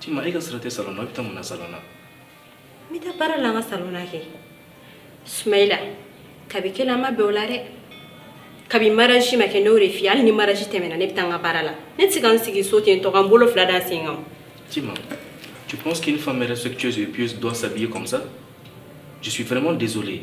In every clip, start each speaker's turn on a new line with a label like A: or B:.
A: Tima e ka sira tɛ salon na i bɛ taa mun na salon na n
B: bɛ taa baara la an ka salon na kɛ Sumahila kabi kɛla an ma bɛn o la dɛ kabi mariage ma kɛ ne y'o de f'i ye hali ni mariage tɛmɛna ne bɛ taa n ka baara la ne tɛ se ka n sigi so ten tɔ ka n bolo fila da n sen kan
A: Tima tu penses qu'une femme respectueuse et pieuse doit s'habiller comme ça je suis vraiment désolé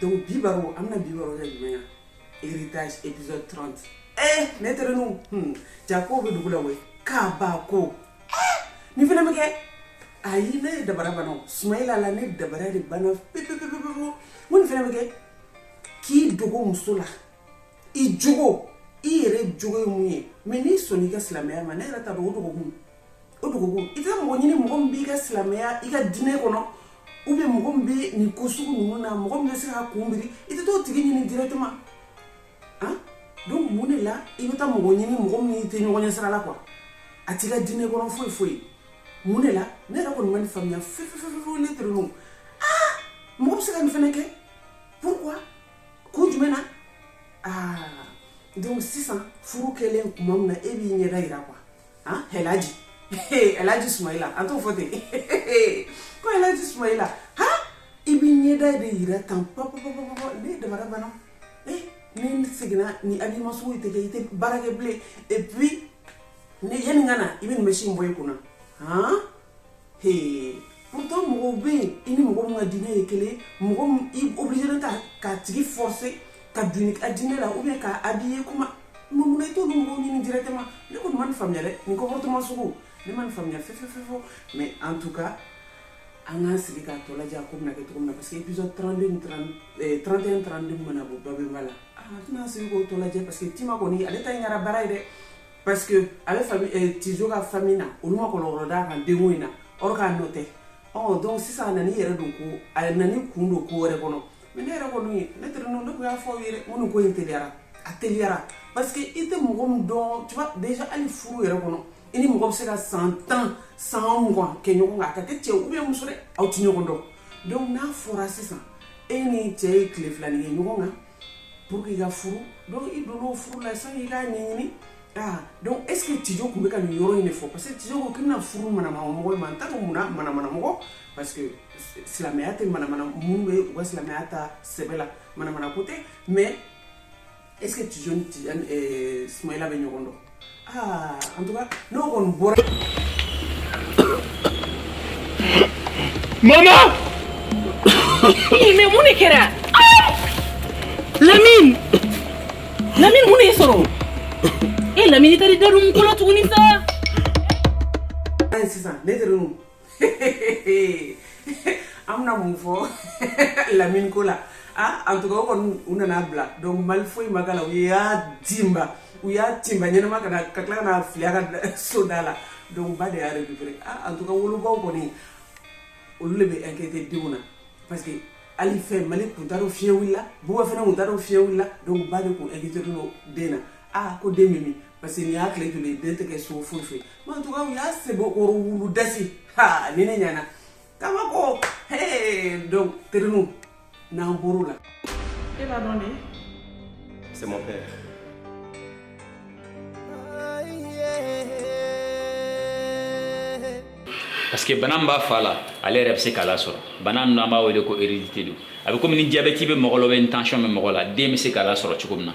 C: donc bi baro an bɛna bi baro kɛ jumɛn kan héritage épisode 30 eh ne terenu hmm, jaa ko bɛ dugu la koyi kabako eh, nin fana bɛ kɛ ayi ne ye dabara banna o sumayila la ne dabara de banna pepepepepepewu n ko nin fana bɛ kɛ k'i dogo muso la i jogo i yɛrɛ jogo ye mun ye mais n'i sɔnni i ka silamɛya ma ne yɛrɛ t'a dɔn o dogo kun o dugu i tɛ taa mɔgɔ ɲini mɔgɔ min b'i ka silamɛya i ka diinɛ kɔnɔ ou bien mɔgɔ min bɛ nin ko sugu ninnu na mɔgɔ min bɛ se k'a kun biri i tɛ t'o tigi ɲini directement han donc mun de la i bɛ taa mɔgɔ ɲini mɔgɔ min tɛ ɲɔgɔn ɲɛ sira la quoi a t'i ka diinɛ kɔnɔ foyi foyi mun de la ne yɛrɛ kɔni ma nin faamuya fefefefewu ne terenu aa mɔgɔ bɛ se ka nin fana kɛ pourquoi kun jumɛn na aa donc sisan furu kɛlen tuma min na e b'i ɲɛda jira quoi ah elaji elaji sumayila an t'o fɔ ten ko elaji sumayila ha i b'i ɲɛda de yira tan papapapapa ne dabara banna eh n'i seginna nin habillement sugu i tɛ kɛ i tɛ baara kɛ bilen et puis ne yanni n ka na i bɛ nin mɛsi in bɔ i kunna han hee pourtant mɔgɔw bɛ yen i ni mɔgɔ min ka diinɛ ye kelen mɔgɔ min i obligé tɛ k'a tigi forcer ka don a diinɛ la ou bien k'a habiller kuma Mun na i t'olu mɔgɔw ɲini directement ne kɔni ma nin faamuya dɛ nin comportement sugu ne ma nin faamuya fefefewu mais en tout cas an k'an sigi k'a tɔ lajɛ a ko bɛna kɛ cogo min na parce que épisode 32 ni 30 ɛɛ 31 32 min mana bɔ babemba la aa an tɛna an sigi k'o tɔ lajɛ parce que Tima kɔni ale ta in kɛra baara ye dɛ parce que a bɛ famille ɛɛ Tijo ka famille na olu ma kɔlɔlɔ d'a kan denko in na or k'a nɔ tɛ ɔ donc sisan a nan'i yɛrɛ don ko a nan'i kun don ko wɛrɛ kɔnɔ mais ne yɛrɛ kɔni ye ne terenu ne kɔni y'a fɔ aw ye ko nin ko in teliyara a teliyara parce que i tɛ mɔgɔ min dɔn tu vois déjà hali furu yɛrɛ kɔnɔ i ni mɔgɔ bɛ se ka san tan san mugan kɛ ɲɔgɔn kan a ka kɛ cɛ ou bien muso dɛ aw tɛ ɲɔgɔn dɔn donc n'a fɔra sisan e ni cɛ ye tile fila nin kɛ ɲɔgɔn kan pour que i ka furu donc i donn'o furu la sani i k'a ɲɛɲini ah donc est ce que tijo tun bɛ ka nin yɔrɔ in de fɔ parce que tijo ko k'i bɛna furu manamanamɔgɔ ma n t'a dɔn munna manamanamɔgɔ parce que silamɛya tɛ manamana minnu bɛ u ka silamɛya ta sɛbɛ la manamana ko tɛ mais est ce que tijo ni tijani eh, sumayila bɛ ɲɔgɔn dɔn aa en tout cas n'o kɔni bɔra.
D: mama. mais mun de kɛra. lamine lamine mun de y'i sɔrɔ e lamine i taara i da don n ko la tuguni sa. sisan
C: ne tɛ an bɛna mun fɔ lamini ko la ah, en tout cas o kɔni u nana bila donc mali foyi ma k'a la u y'a timba u y'a timba ɲɛnama ka na ka tila ka na fili a ka so da la donc ba de y'a récupéré ah, en tout cas wolobaw kɔni olu de bɛ inquiété denw na parce que hali fɛn mali kun t'a dɔn fiɲɛ wulila buba fana kun t'a dɔn fiɲɛ wulila donc ba de kun inquiété don den na aa ko den bɛ min parce que nin y'a tile joli ye den tɛ kɛ so foyi foyi mais en tout cas u y'a sebo o wulu dasi ha ni ne ɲɛna kaba ko hee donc terinu n'an bɔr'o la e b'a dɔn de
D: c'est
A: mon
E: père parce que bana min b'a fa la ale yɛrɛ bɛ se k'a lasɔrɔ bana min an b'a wele ko hérédité don a bɛ komi ni diabɛti bɛ mɔgɔ la ou bien tension bɛ mɔgɔ la den bɛ se k'a lasɔrɔ cogo min na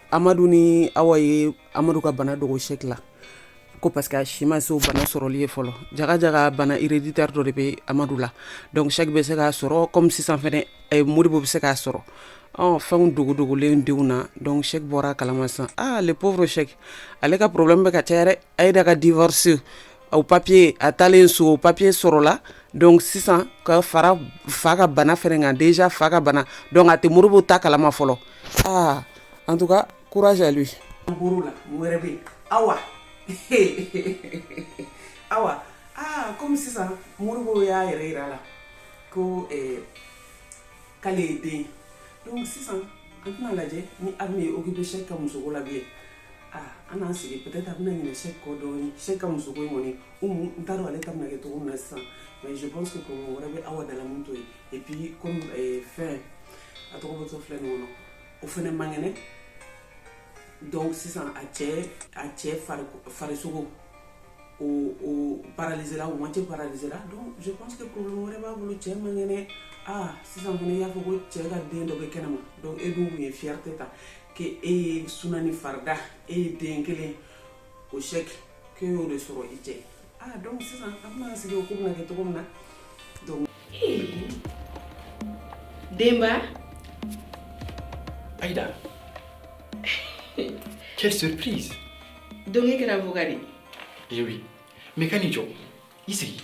C: Amadu ni Awa ye amadu ka bana dogo Sɛki la ko parce que a si ma se o bana sɔrɔli ye fɔlɔ jaga jaga bana héréditaire dɔ de bɛ amadu la donc Sɛki bɛ se k'a sɔrɔ kɔmi sisan fɛn Modibo bɛ se k'a sɔrɔ ɔ fɛn dogo dogolen denw na donc Sɛki bɔra a kalama san aa le pauvre Sɛki ale ka problème bɛ ka ca yɛrɛ a ye da ka divorce o papiye a taalen so o papiye sɔrɔla donc sisan ka fara fa ka bana fana kan déjà fa ka bana donc a tɛ Modibo ta kalama fɔlɔ aa en tout cas courage à lui problème wɛrɛ bɛ Awa Awa kɔmi sisan Modibo y'a yɛrɛ jira la ko k'ale ye den donc sisan an tɛna lajɛ ni Awa bɛ occupé Sɛki ka muso ko la bi ye an k'an sigi peut-être a bɛna ɲinɛ Sɛki kɔ dɔɔni Sɛki ka muso ko in kɔni Umu n t'a dɔn ale ta bɛna kɛ cogo min na sisan mais je pense que problème wɛrɛ bɛ Awa da la min t'o ye et puis comme fɛn a tɔgɔ bɔtɔ filɛ nin kɔnɔ o fana man kɛnɛ donc sisan a cɛ a cɛ farisogo o o paralyser la o moitié paralyser la donc je pense que problème wɛrɛ b'a bolo cɛ man kɛnɛ aa sisan fana i y'a fɔ ko cɛ ka den dɔ bɛ kɛnɛma donc e dun tun ye fierté ta k' e ye suna ni farida e ye den kelen o Sɛki e y'o de sɔrɔ i cɛ donc sisan an bɛna sigi o ko bɛna kɛ cogo min na donc
A: Denba Ayida quelle surprise donc
B: e kɛra fugari
A: eh oui mais kana i jɔ i sigi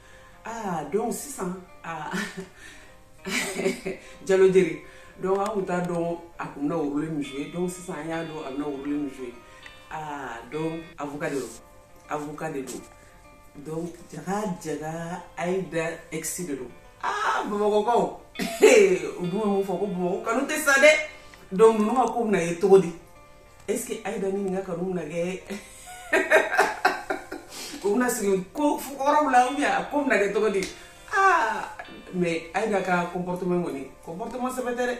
C: aa donc sisan aa jalo jeri donc an kun t'a dɔn a kun bɛna rôle min jouer donc sisan an y'a dɔn a bɛna rôle min jouer aa donc avocat de don avocat de don donc jaga jaga aida ex de don aa bamakɔkaw u dun bɛ mun fɔ ko bamakɔ kanu tɛ sa dɛ donc ninnu ka ko bɛna ye cogo di est-ce que Aïda ni nin ka kanu na kɛ u bɛna segin ko kɔrɔw la ou bien a ko bɛna kɛ cogo di aa mais Aïda ka comportement kɔni comportement sɛbɛ tɛ dɛ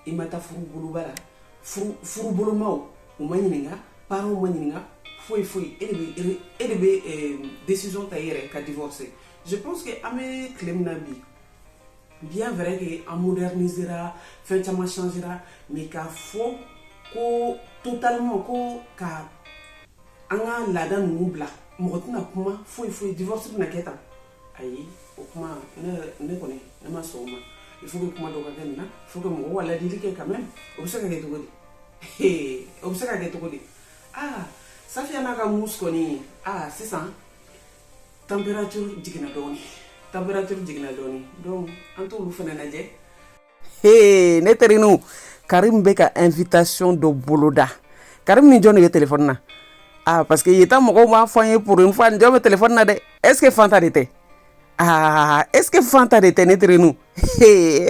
C: i ma taa furu boloba la furu bolomaw u ma ɲininka parents ma ɲininka foyi foyi e de bɛ e de bɛ décision ta i yɛrɛ ka divorcer je pense que an bɛ tile min na bi bien vrai que an modernisera fɛn caman changera mais k'a fɔ ko totalement ko ka an ka laada ninnu bila mɔgɔ tɛna kuma foyi foyi divorce bɛna kɛ tan ayi o kuma ne ne kɔni ne ma sɔn o ma il faut que kuma dɔ ka kɛ nin na il faut que mɔgɔw ka ladili kɛ quand même o bɛ se ka kɛ cogo di o bɛ se ka kɛ cogo di aa safiya n'a ka mus kɔni aa sisan température jiginna dɔɔni température jiginna dɔɔni donc an t'olu fana lajɛ Hey, ne terinu karim bɛ ka invitation dɔ boloda karim ni jɔn de bɛ telefɔni na ah parce que yeta mɔgɔw b'a fɔ an ye pour une fois ni jɔn bɛ telefɔni na dɛ est ce que fanta de tɛ ah est ce que fanta de tɛ ne terinu Hey,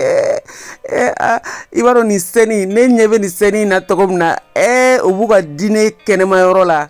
C: eh, ah, i b'a dɔn nin scène ne ɲɛ bɛ nin scène in na cogo min na eh, u b'u ka dîner kɛnɛma yɔrɔ la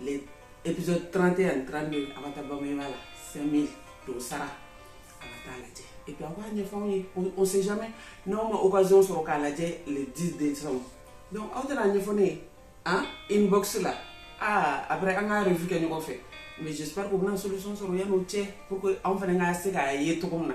C: les épisodes 31 ani 32 a bɛ taa Babemba la 5000 dɔ sara a bɛ taa lajɛ et puis a b'a ɲɛfɔ anw ye on sait jamais n'anw ma occasion sɔrɔ k'a lajɛ le 10 décembre donc aw tɛ n'a ɲɛfɔ ne ye an inbox la ah après an ka revue kɛ ɲɔgɔn fɛ mais j'espère que u bɛna solution sɔrɔ yan'o cɛ pour que anw fana ka se k'a ye cogo min na